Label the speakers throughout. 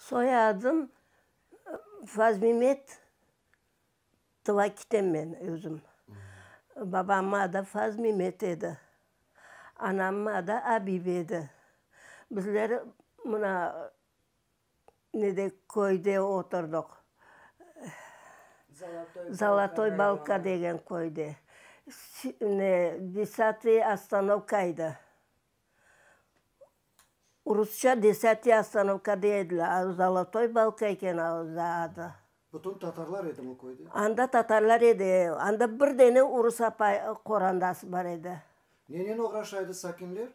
Speaker 1: Soyadım Fazmimet Tvakitem men özüm. Babamnıñ adı Fazmimet edi. Anamnıñ adı Abibe edi. Bizler mına ne de köyde oturdıq, Zalatoy Balka degen köyde, ne, desatiy ostanovka edi. Rusça desatiy ostanovka deydiler, a Zalatoy Balka eken adı. Anda bütün tatarlar edi mi o köyde? Anda tatarlar edi, anda bir dene urus apay qorandası bar edi. Nenen oğraşa edi sakinler?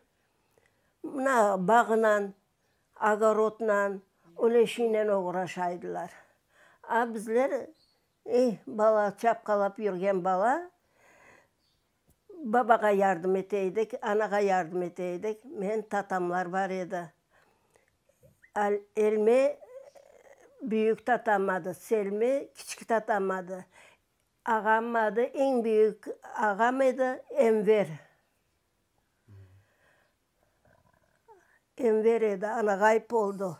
Speaker 1: Mına, bağınan, ogorodnan, öyle şeynen oğraşaydılar. A bizler, ey, bala, çapqalap yürgen bala, babağa yardım eteydik, anağa yardım eteydik. Menim tatamlar bar edi. Elmi, büyük tatam adı, Selmi, kiçik tatam adı. Ağamnıñ adı, eñ büyük ağam edi, Enver. Enver edi, ana ğayıp oldu.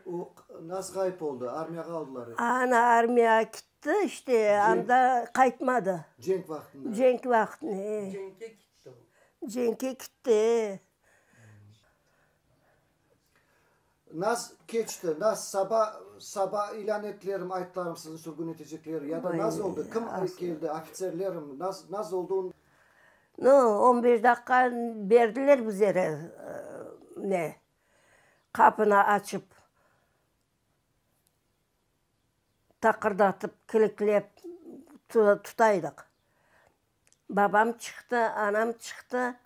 Speaker 1: O nasıl ğayıp oldu? Armiyağa aldılar ı? Ana armiyağa kitti, işte, anda qaytmadı. Cenk vaqtında? Cenk vaqtında, e. Cenkke kitti o. Cenkke kitti, e. Naz keçti, naz, saba, saba ilân ettilerim, aytlarım sizni sürgün etecekler, ya da naz oldı, kim keldi, ofitserlerim, naz, naz oldı. No, on beş daqqa berdiler bizlere, ne, qapını açıp, taqırdatıp, kilitlep tutaydıq. Babam çıqtı, anam çıqtı.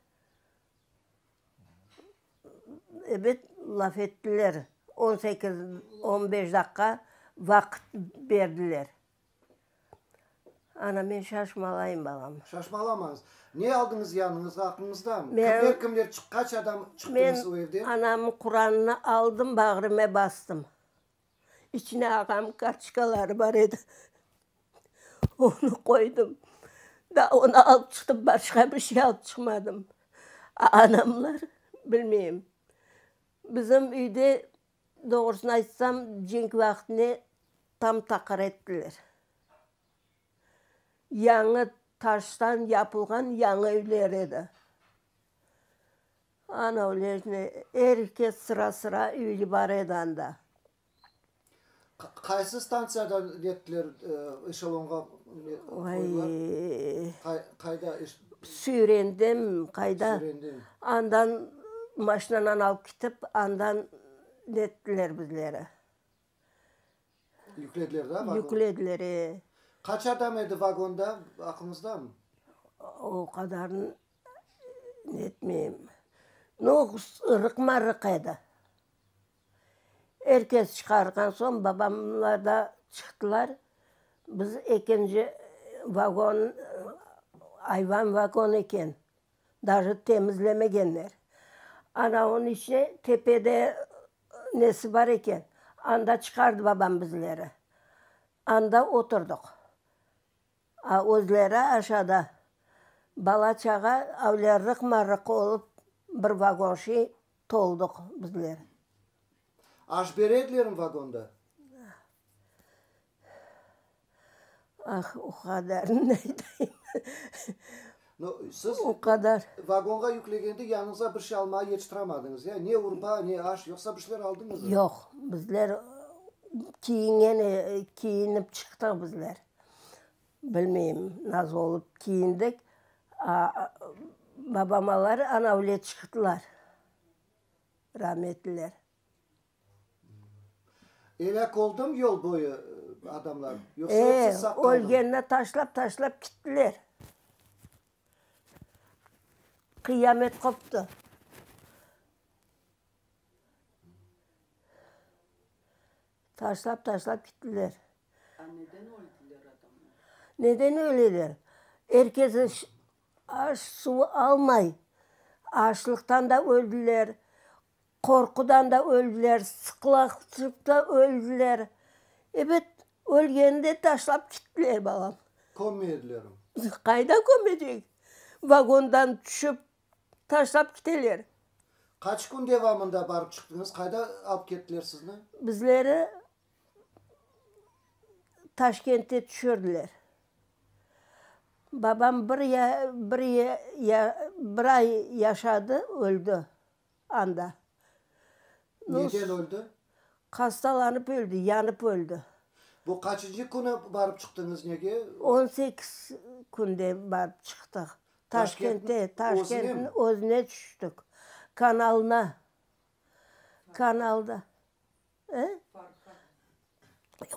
Speaker 1: Ebet, laf ettiler, on sekiz, on beş daqqa vaqıt berdiler. Ana, men şaşmalayım, balam. Şaşmalamañız. Ne aldınız yanıñızğa, aqlıñızdamı? Kimler, kimler çıqqan, qaç adam çıqtınız o evden? Men anamnıñ Quranını aldım, bağrıma bastım. İçine ağam kartoçkaları bar edi. Onı qoydım. Daa onı alıp çıqtım, başqa bir şey alıp çıqmadım. Anamlar, bilmeyim, bizim üyde, doğrusını aytsam, cenk vaqtine tam taqır ettiler. Yañı taştan yapılğan yañı üyler edi. Ana Olejnaya er kes sıra-sıra üyli bar edi anda. Qaysı stantsiyadan kettiler eşelonğa? Qayda? Süyrendim, qayda. Andan maşinanan alıp ketip, andan nettiler bizleri. Yüklediler da vagona? Yüklediler, e. Qaç adam edi vagonda, aqlıñızdamı? O qadarını netmeyim. No, ırıq-marıq edi. Er kes çıqarğan soñ, babamlar da çıqtılar. Biz ekinci vagon, ayvan vagon eken. Daje temizlemegenler. Ana onıñ içine tepede nesi bar eken, anda çıqardı babam bizleri. Anda oturdıq. A özleri aşağıda. Bala-çağa öyle rıq-marıq olıp, bir vagon şey toldıq bizler. Aş beredlermi vagonda? Ah, o qadarını ne eteyim? No, siz o qadar. Vagonğa yüklegende yanıñıza bir şey almağa yetiştiremadınız, ya? Ne urba, ne aş, yoqsa bir şeyler aldınızmı? Yoq, bizler kiyingen, kiyinip çıqtıq bizler. Bilmeyim, nasıl olıp kiyindik. Babam-lar anavle çıqtılar, rahmetliler. Elâk oldım yol boyu adamlar? Yoqsa otsız sağ qaldımı? E, ölgenine taşlap taşlap kittiler. Qıyamet qoptı. Taşlap taşlap kittiler. A neden öldiler adamlar? Neden öleler? Er kes aş suv almay, açlıqtan da öldiler, Qorqudan da öldiler, sıqlaqçıqta öldiler. Ebet, ölgeni de taşlap kittiler, balam. Kömmeydilermi? Qayda kömecek? Vagondan tüşip, taşlap kiteler. Qaç kün devamında barıp çıqtıñız? Qayda alıp kettiler sizni? Bizleri Taşkentte tüşürdiler. Babam bir ya, bir ya, bir ay yaşadı, öldi. anda. Neden öldi? Hastalanıp öldi, yanıp öldi. Bu qaçıncı künü barıp çıqtıñız nege? On sekiz künde barıp çıqtıq. Taşkentke, Taşkentniñ özüne tüştük. Kanalına, kanalda. He?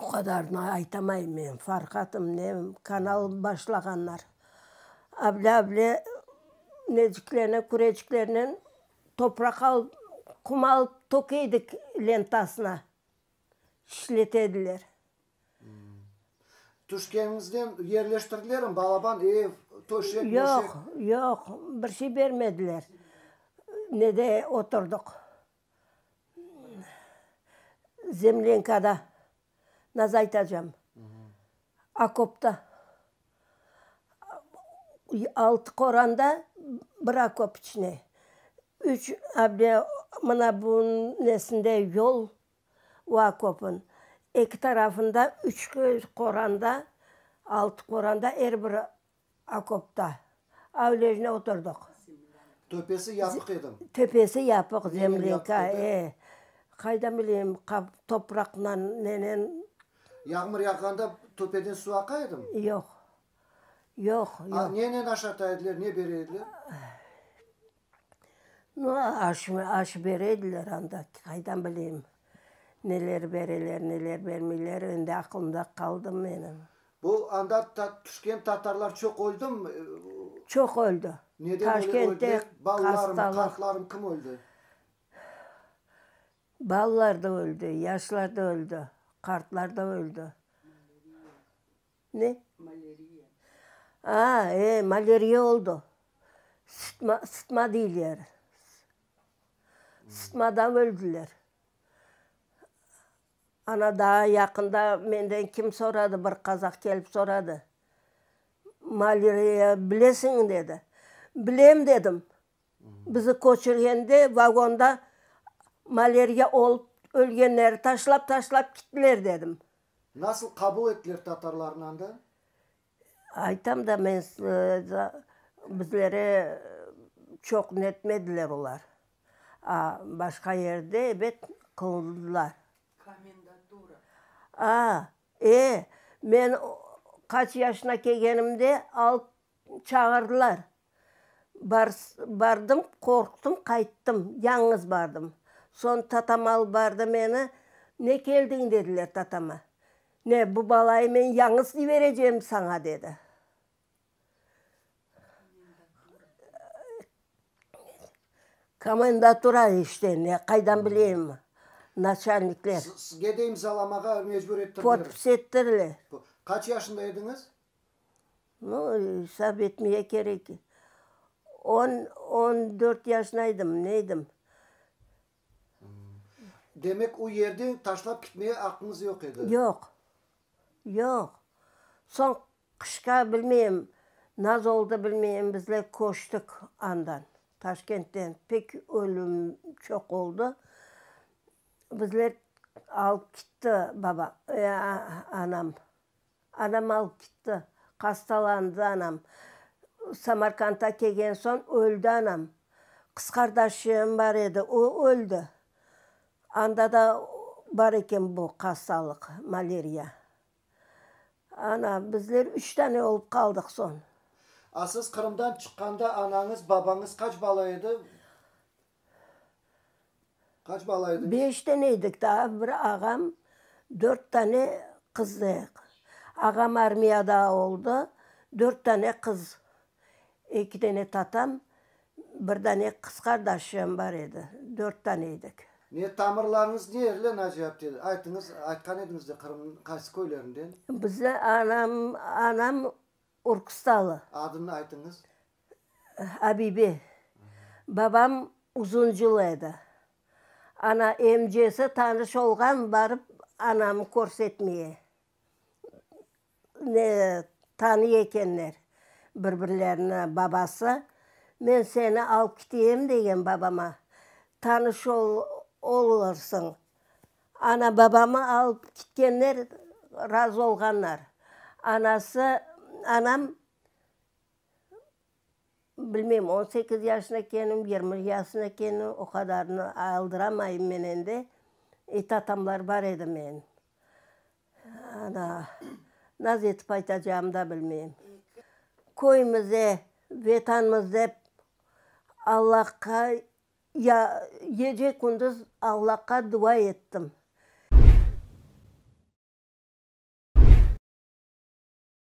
Speaker 1: O qadarını aytamayım men, Farhatım, ne kanal başlağanlar. Avle-avle neciklerine, küreciklerinen topraq alıp, qum alıp tökeydik lentasına, işlet ediler. Tüşkeniñizden yerleştirdilermi, balaban, ev, töşek, möşek? Yoq, yoq, bir şey bermediler. Nede oturdıq. Zemlyankada, nasıl aytacam, okopta, altı qoranda, bir okop içine, üç, mına bunıñ nesinde yol o okopnıñ eki tarafında, üç qoranda, altı qoranda, er bir. Okopta. Avlejne oturdıq. Töpesi yapıq edi. Töpesi yapıq, zemlyanka, e. Qaydan bileyim, qap, topraqnan, nenen. Yağmur yağğanda töpeden suv aqa edi mi? Yoq. Yoq, yoq. Nenen aşata ediler, ne bere ediler? No, aş, aş berediler anda, qaydan bileyim, neler bereler, neler bermeyler, endi aqlımda qaldı menim. Bu anda tüşken tatarlar çoq öldümi? Çoq öldi. Neden öyle öldüler? Balalarım, qartlarım, kim öldü? Balalar da öldü, yaşlar da öldü, qartlar da öldü. Ne? Maleriya. Aa, e, maleriya oldu. Sıtma, sıtma deyler. Sıtmadan öldüler. Ana daa yaqında menden kim soradı, bir qazaq kelip soradı, maleriya bilesiñmi? dedi. Bilem, dedim. Bizi köçürgende vagonda maleriya olıp ölgenleri taşlap-taşlap gittiler, dedim. Nasıl qabul ettiler tatarlarnı anda? Aytam da men size, bizlere çoq netmediler olar. A başqa yerde, ebet, qılındılar. Komendatura. A, e, men qaç yaşına kelgenimde alıp çağırdılar. Bardım, qorqtım, qayttım, yañğız bardım. Soñ tatam alıp bardı meni. Ne keldiñ, dediler tatama. Ne, bu balayı men yañğız yiberecegim saña, dedi. Komendatura işte, ne, qaydan bileyim, naçalnikler. Sizge de imzalamağa mecbur ettirdiler? Podpis ettirdiler. Qaç yaşında ediñiz? No, esap etmeye kerek. On, on dört yaşında edim, ne edim. Demek, o yerde taşlap kitmeye aqqıñız yoq edi? Yoq, yoq. Soñ qışqa bilmeyim, naz oldı bilmeyim, bizler köçtik andan, Taşkentten. Pek ölüm çoq oldı. Bizler alıp kitti babam, anam. Anam alıp gitti. Qastalandı anam. Samarqanddan kelgen soñ öldi anam. Qız qardaşım bar edi, o öldi. Anda da bar eken bu hastalıq, maleriya. Ana, bizler üç tane olıp qaldıq soñ. A siz Qırımdan çıqqanda anañız, babañız qaç bala edi? Qaç bala ediñiz? Beş dene edik, daa bir ağam, dört dane qız edik. Ağam armiyada oldı, dört dane qız, eki dene tatam, bir dane qız qardaşım bar edi, dört dane edik. Ne, tamırlarıñız nerli, Naciye apte? Aytıñız, aytqan ediñiz de, Qırımnıñ qaysı köylerinde? Bizni anam, anam Orkustalı. Adını aytıñız. Abibe. Babam uzuncul edi. Ana emcesi tanış olğan, barıp anamı körsetmeye. Ne tanıy ekenler bir-birlerini babası. Men seni alıp kiteyem degen babama. Tanış olursıñ, Ana-babamı alıp kitkenler razı olğanlar. Anası, anam, bilmeyim, on sekiz yaşına ekenim, yirmi yaşına ekenim, o qadarını aldıramayım men endi. Etatamlar bar edi menim. Ana, naz etip aytacağımnı da bilmeyim. Köyümüzde, Vetanımız dep Allahqa. Ya gece-kündüz Allaqa dua ettim.